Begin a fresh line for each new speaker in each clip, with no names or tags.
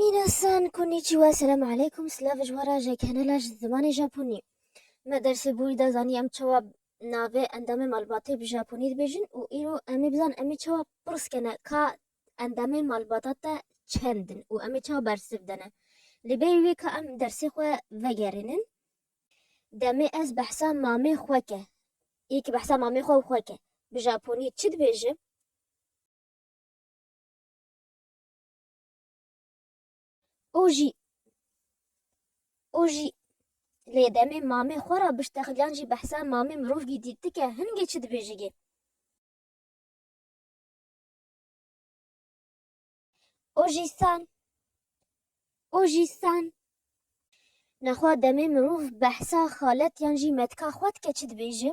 Minasan konnichiwa selam aleykum silav ji wara ji kanala ji zimanê Japonî. Me dersê borî de zanî em çawa navê endamê malbatê bi Japonî dibêjin û îro em ê bizanin em ê çawa pirs kene ka endamê malbata te çend in û em ê çawa bersiv dene. Lê berî wê ka em dersê xwe vegerînin demê ez behsa mamê xwe ke yê ki behsa mamê xwe û xwe ke bi Japonî çi dibêjim? û jî û jî lê demê mamê xwe ra biştexilyan jî behsa mamê mirovgî dîtike hingê çi dibêjigê. û jî san û jî san nexwa demê mirov behsa xalet yan jî metka xwe dike çi dibêje.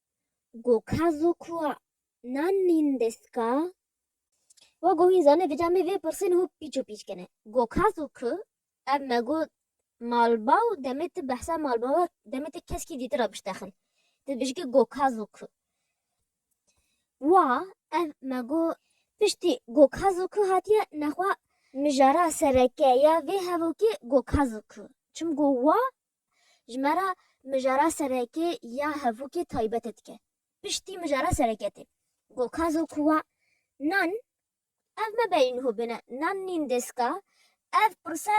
Go ka zo kua nan nîn dest ka? Wa go hîn zane vêca mê vê pirsên ho pîç û pîç kene. Go ka zo ki ev me go malbaw demê ti behsa malbawa demê ti keskî dîtir ra biştexin. Ti dibêjî ki go ka zo ki. Wa ev me go piştî go ka zo ki hatiye nexwa mijara sereke ya vê hevokê go ka zo ki. Çim go wa Ji me re mijara serekê ya hevûkê taybetê dike. Piştî mijara serekê tê. Gokazo kuwa Nan, ev me beyî niho bêne Nan nîn dêska? Ev pirse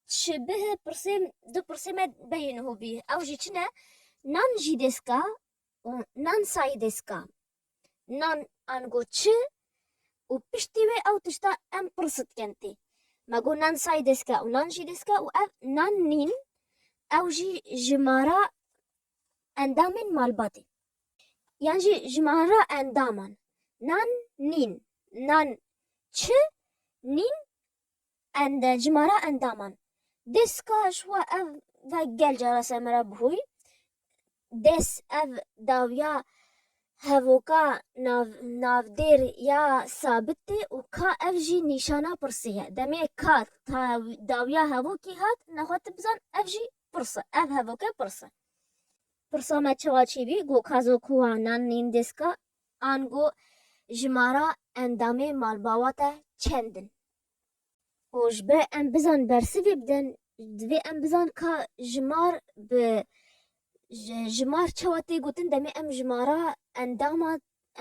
şibih pirsê du pirsê me beyî niho bî. Ew jî çi ne? Nan jî dêska û Nan sayî dêska. nan ango çi û piştî wê ew tişta em pirs dikin tê. Me got nan say destke û nan jî destke û ev nan nîn ew jî ji ma re endamên malbatê yan jî ji ma re endaman nan nîn. Nan çi nîn End, cimara endaman. Des ka ji xwe ev ve gel cara ser me re bihûy. Des, ev dawiya hevoka nav, navdêr ya sabit tê û ka ev jî nîşana pirsê ye. Demê ka ta dawiya hevokê hat, nexwe tu bizan ev jî pirs e, ev hevoke pirs e. Pirsa me çawa çêbî, got ka zokuwa nan nîn des ka Ango jimara endamê malbawa te çend in? Û ji ber em bizan bersivê bidin divê em bizan ka jimar bi jimar çawa tê gotin demê em jimara endama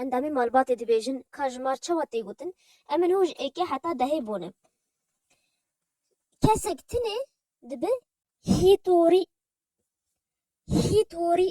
endamê malbatê dibêjin ka jimar çawa tê gotin em ê niho ji êkê heta dehê bonin. Kesek tune dibe hîtorî hîtorî.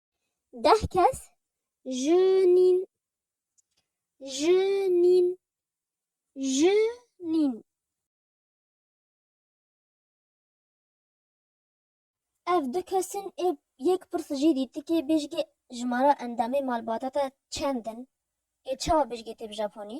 Deh kes ji nîn ji nîn ji nîn. Ev du kesin ê yek pirs jî dîtikê bêjgê jimara endamê malbata te çend in ê çawa bêjgê tê bi japonî?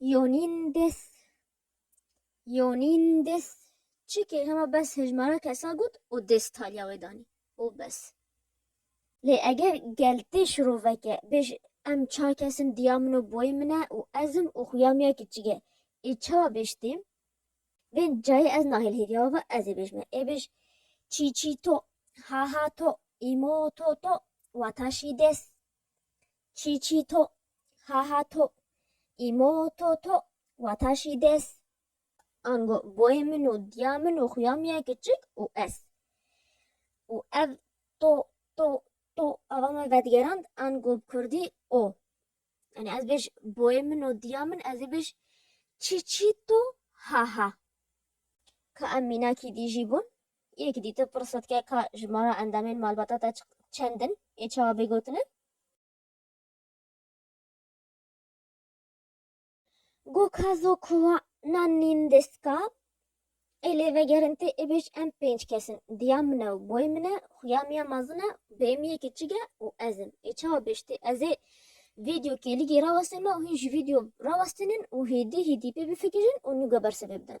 Yonîn des Yonîn des çikê hema bes hejmara kesa got û des taliya wê danî û bes. Lê eger gel tê şiroveke bêj em çar kes in diya min û boyê min e û ez im û xuya min ya kiçik e ê çawa bêj tê? Vê cayê ez nahêl hêviya we ve ez ê bêj me ê bêj çî çî to, ha ha to, îmo to to, wata şî des. Çî çî to, ha ha to, îmo to to, wata şî des. Ango boyê min û diya min û xuya min ya kiçik û ez. Û ev to to to ava me vedigerand ango bi kurdî o. Yanî ez bêj boyê min û diya min ez ê bêj çî çî to, ha ha. Ka em mînakî dî jî bûn Yek dî tu pirsotke ka jimara endamên malbata te çend in ê çawa bê gotine? Go ka zo kuwa na nîn destga ê lê vegerin tê ê bêj em pênc kes in, diya min e û boyê min e, xuya miya mezin e û bêyemiyê kiçik e û ez im. Ê çawa bêj tê? Ez ê vîdyo kêligî rawestême û hîn jî vîdyo rawestînin û hêdî hîdî pê bifikirin û nûge bersiv ê bidin.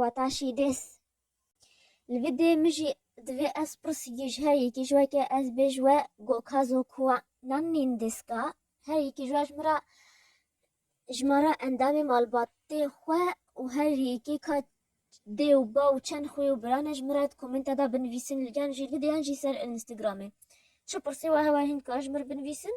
wata şîdês. Li vî dê min jî divê ez pirsîgî ji her yekî ji we ke ez bê ji we goka zokuwa nan nîn dêska her yekî ji we ji min re ji me re endamê malbatê xwe û her yekî ka dê û ba û çend xwî û biran e ji min re di komenta de binivîsin li gel jî li dê yan jî ser Instagramê çi pirsê we hewa hîn dikar ji min re binivîsin.